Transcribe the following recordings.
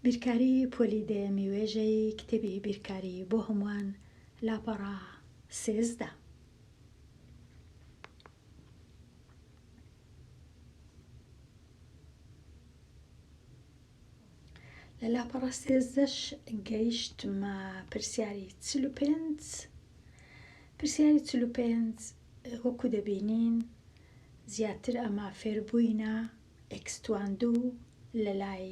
بیرکاری پۆلی دەیەمی وێژەی کتێبی بیرکاری بۆ هەمووان لاپەڕە سێزدە لە لاپەڕە سێزدەش گەیشتمە پرسیاری چل و پێنج پرسیاری چل و پێنج وەکو دەبینین زیاتر ئەمە فێربووینە ئێکستواندو لەلای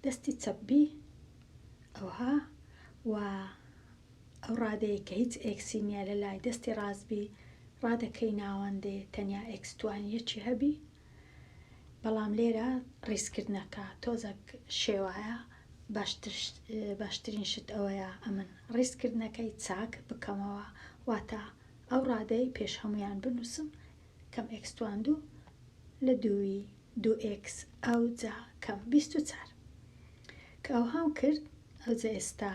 دەستی چەپ بی ئەوها و ئەو ڕادەیە کە هیچ ئێکسی نیە لەلای دەستی ڕاست بی ڕادەکەی ناوەندێ تەنیا ئێکستوان یەکی هەبی بەڵام لێرە ڕیزکردنەکە تۆزەک شێوایە باشترین شت ئەوەیە ئەمن ڕیزکردنەکەی چاک بکەمەوە واتە ئەو ڕادەی پێش هەمویان بنووسم کەم ئێکس تواندوو لە دووی دوو ئێکس ئەوجا کەم بیست و چار کە ئەوهام کرد ئەوجا ئێستا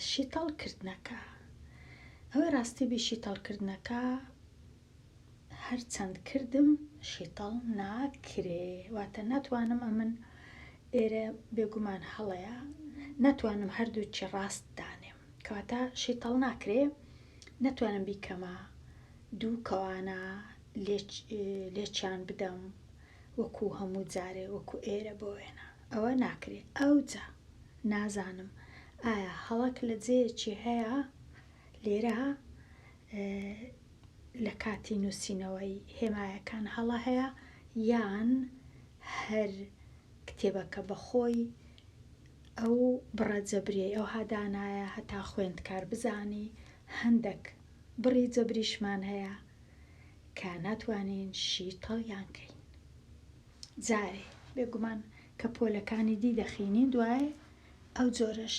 شیتەڵ کردنەکە ئەوەی ڕاستی بی شیتەڵ کردنەکە هەرچەند کردم شیتەڵ ناکرێ واتە ناتوانم ئەمن ئێرە بێگومان هەڵەیە ناتوانم هەردووچی ڕاست دانێم کەواتە شیتەڵ ناکرێ نەتوانم بیکەمە دوو کەوانە لێکیان بدەم وەکو هەموو جارێ وەکو ئێرە بۆ وێنە ئەوە ناکرێ ئەوجا نازانم ئایا هەڵەک لە جێیەکی هەیە لێرە لە کاتی نووسینەوەی هێمایەکان هەڵە هەیە یان هەر کتێبەکە بەخۆی ئەو بڕە جەبریەی ئەوها دانایە هەتا خوێندکار بزانی هەندەک بڕی جەبریشمان هەیە کە ناتوانین شی تەڵیان کەین جارێ بێگومان کە پۆلەکانی دی دەخینین دوای ئەو جۆرەش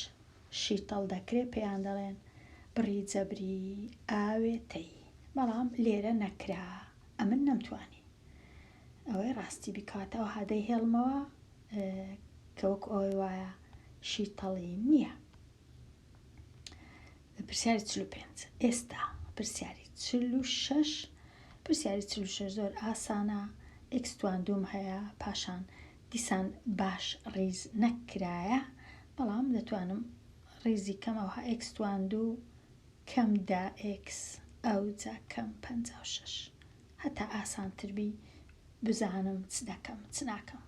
شیتەڵ دەکرێ پێیان دەڵێن بڕی جەبری ئاوێتەیی بەڵام لێرە نەکرا ئەمن نەمتوانی ئەوەی ڕاستی بیکات ئەوها دەیهێڵمەوە کە وەکو ئەوەی وایە شیتەڵی نییە پرسیاری چل و پێنج ئێستا پرسیاری چل و شەش پرسیاری چل و شەش زۆر ئاسانە ئەکستوان دوم هەیە پاشان دیسان باش ڕیز نەکرایە بەڵام دەتوانم ڕیزی کەم ئەوها ئەکستوان دوو کەم دا ئکس ئەو جا کەم پەنج و شەش هەتا ئاسانتر بی بزانم چ دەکەم چ ناکەم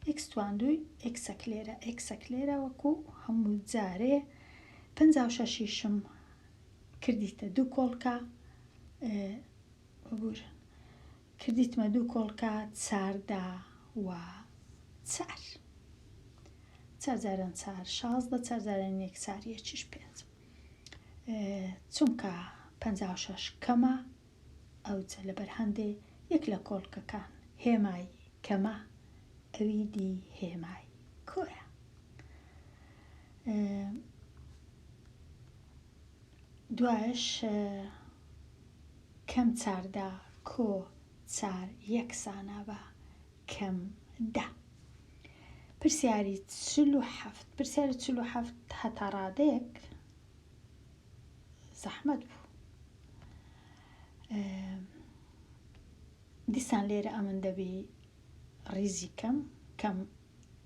ئێکس تواندوی ئێکسەک لێرە ئێکسەک لێرە وەکو هەموو جارێ پەنجا و شەشیشم کردیتە دوو کۆڵکە ببور کردیتمە دوو کۆڵکە چاردا و چار چارجاران چار شازدە چارجاران یەک چار یەکیش پێنج چونکە پەنجا و شەش کەمە ئەوچە لەبەر هەندێ یەک لە کۆڵکەکان هێمای کەمە ئەوی دی هێمای کۆیە دوایش کەم چاردا کۆ چار یەکسانە بە کەم دا پرسیاری چل و هەفت پرسیاری چل و هەفت هەتا ڕادەیەک زەحمەت بوو دیسان لێرە ئەمن دەبی ڕیزی کەم کەم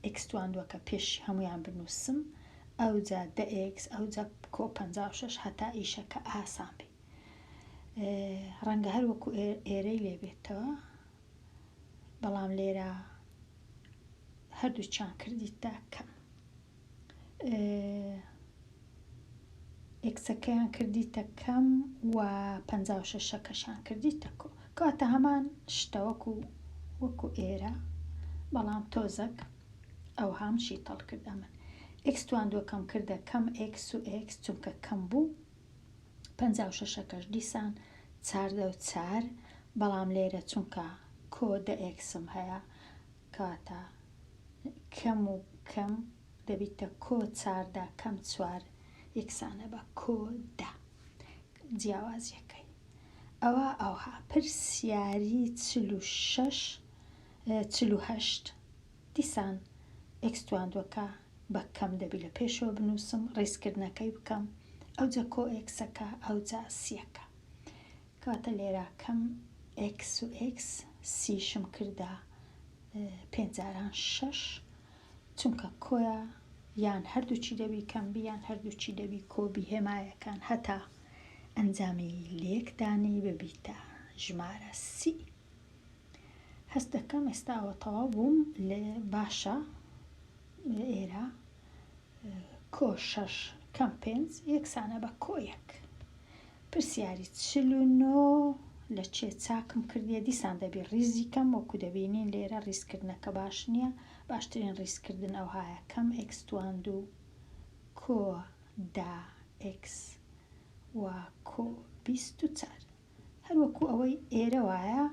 ئکسوان دووە کە پێش هەمویان بنووسم ئەو جا دەئکس ئەو جا کۆ پ شش هەتا ئیشەکە ئاسان بێ ڕەنگە هەر وەکو ئێرەی لێبێتەوە بەڵام لێرە هەردوو چان کردیتدا کەم ئێکسەکەیان کردیتە کەم و پەنجا و شەشەکەشان کردیتە کۆ کەواتە هەمان شتە وەکو وەکو ئێرە بەڵام تۆزەک ئەو هام شیتەڵ کرد ئەمن ئێکس تواندوەکەم کردە کەم ئێکس و ئێکس چونکە کەم بوو پەنجا و شەشەکەش دیسان چاردە و چار بەڵام لێرە چونکە کۆ دە ئێکسم هەیە کاتا کەم و کەم دەبیتە کۆ چاردا کەم چوار یەکسانە بە کۆ دە جیاوازیەکەی ئەوا ئەوها پرسیاری چل و شەش چل و هەشت دیسان ئێکس تواندوەکە بە کەم دەبی لە پێشەوە بنووسم ڕیزکردنەکەی بکەم ئەوجە کۆ ئێکسەکە ئەوجا سیەکە کەواتە لێرە کەم ئێکس و ئێکس سیشم کردە پێنج جاران شەش چونکە کۆە یان هەردووچی دەبی کەم بیان هەردووچی دەبی کۆبی هێمایەکان هەتا ئەنجامی لێکدانی ببیتە ژمارە سی هەست دەکەم ئێستاوە تەواو بووم لێ باشە ئێرە کۆ شەش کەم پێنج یەکسانە بە کۆ یەک پرسیاری چل و نۆ، لە چێ چاکم کردیە دیسان دەبی ڕیزی کەم وەکو دەبینین لێرە ڕیزکردنەکە باش نیە باشترین ڕیزکردن ئەوهایە کەم ئێکس توان دوو کۆ دە ئێکس وە کۆ بیست و چار هەر وەکو ئەوەی ئێرە وایە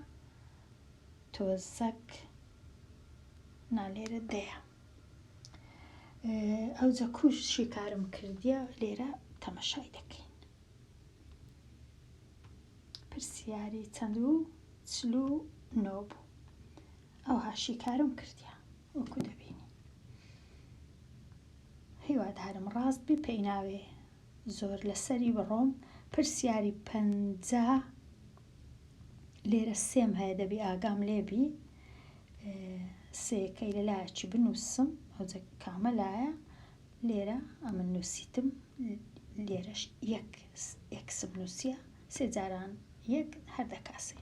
تۆزەک نا لێرە دەیە. ئەوجە کوش شیکارم کردیە لێرە تەمەشای دەکەین پرسیاری چەند و چل و نۆ بوو ئەوها شیکارم کردیە وەکو دەبینی هیوادارم ڕاست بی پێی ناوێ زۆر لەسەری بڕۆم پرسیاری پەنجا لێرە سێم هەیە دەبی ئاگام لێبی سێکەی لە لایەکی بنووسم ئەوجە کامە لایە لێرە ئەمە نووسیتم لێرەش یەک ئەکسم نووسە سێ جاران یەک هەر دەکاسێ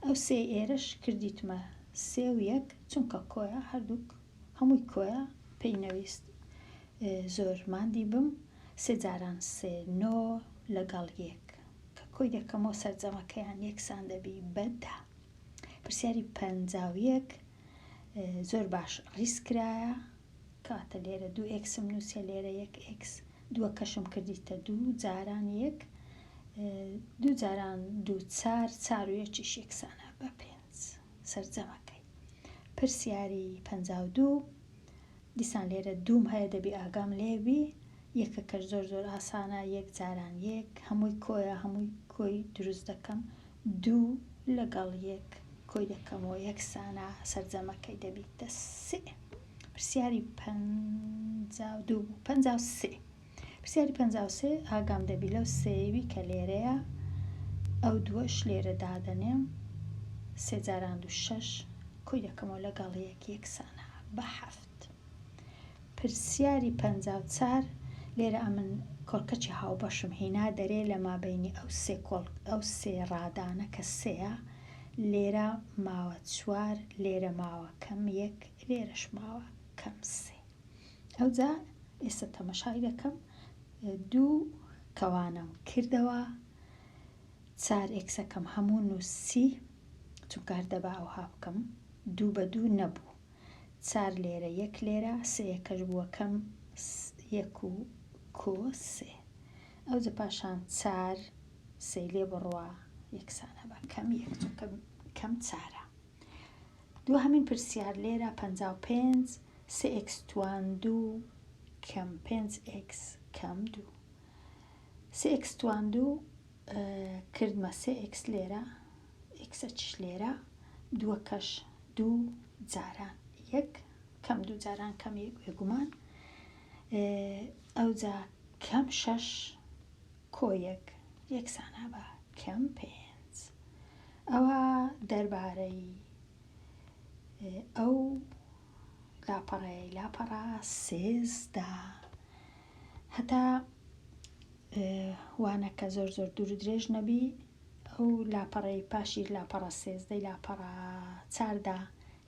ئەو سێ ئێرەش کردیتمە سێ و یەک چونکە کۆیە هەردووک هەمووی کۆیە پێی نەویست زۆر مادی بم سێ جاران سێ نۆ لەگەڵ یەک کە کۆی دەکەمەوە سەرجەمەکەیان یەکسان دەبی بەدا پرسیاری پەنجا و یەک زۆر باش ڕیس کرایە کاتە لێرە دوو ئێکسم نووسە لێرە یەک ئێکس دووە کەشم کردیتە دوو جاران یەک دوو جاران دوو چار چار و یەکی شێکسانە بە پێنج سەرجەمەکەی پرسیاری پەنجا و دوو دیسان لێرە دووم هەیە دەبی ئاگام لێ بی یەکەکەش زۆر زۆر ئاسانە یەک جاران یەک هەمووی کۆیە هەمووی کۆی دروست دەکەم دوو لەگەڵ یەک کۆی دەکەمەوە یەکسانە سەرجەمەکەی دەبیتە سێ پرسیاری پەنجا و دوو بوو پەنجا و سێ پرسیاری پەنجا و سێ، ئاگام دەبی لەو سێیەوی کە لێرەیە، ئەو دووەش لێرە دادەنێم، سێ جاران دوو شەش، کۆی دەکەمەوە لەگەڵ یەک یەکسانە بە حەفت. پرسیاری پەنجا و چار، لێرە ئەمن کۆڵکەچی هاوبەشم هینا دەرێ لە مابەینی ئەو سێ کۆڵ ئەو سێ ڕادانە کە سێیە، لێرە ماوە چوار، لێرە ماوە کەم یەک، لێرەش ماوە کەم سێ. ئەوجا ئێستا تەمەشای دەکەم دوو کەوانەم کردەوە چار ئێکسەکەم هەموو نووسی چونکار دەبا ئەوها بکەم دوو بە دوو نەبوو چار لێرە یەک لێرە سەیەکەش بووەکەم یەک و کۆ سێ ئەو جە پاشان چار سەی لێ بڕوە یەکسانە بە کەم یەک چونکە کەم چارە دوهەمین پرسیار لێرە پەنجا و پێنج سێ ئێکس توان دوو کەم پێنج ئێکس کەم دوو سێ ئێکس توان دوو کردمە سێ ئێکس لێرە ئێکسەچش لێرە دووەکەش دوو جاران یەک کەم دوو جاران کەم یەک بێگومان ئەوجا کەم شەش کۆ یەک یەکسانە بە کەم پێنج. ئەوە دەربارەی ئەو لاپەڕەیەی لاپەڕە سێزدە هەتا وانەکە زۆر زۆر دوور و درێژ نەبی ئەو لاپەڕەی پاشی لاپەڕە سێزدەی لاپەڕە چاردا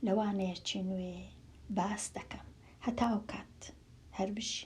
لە وانەیەکی نوێ باس دەکەم هەتا ئەو کات هەر بژی.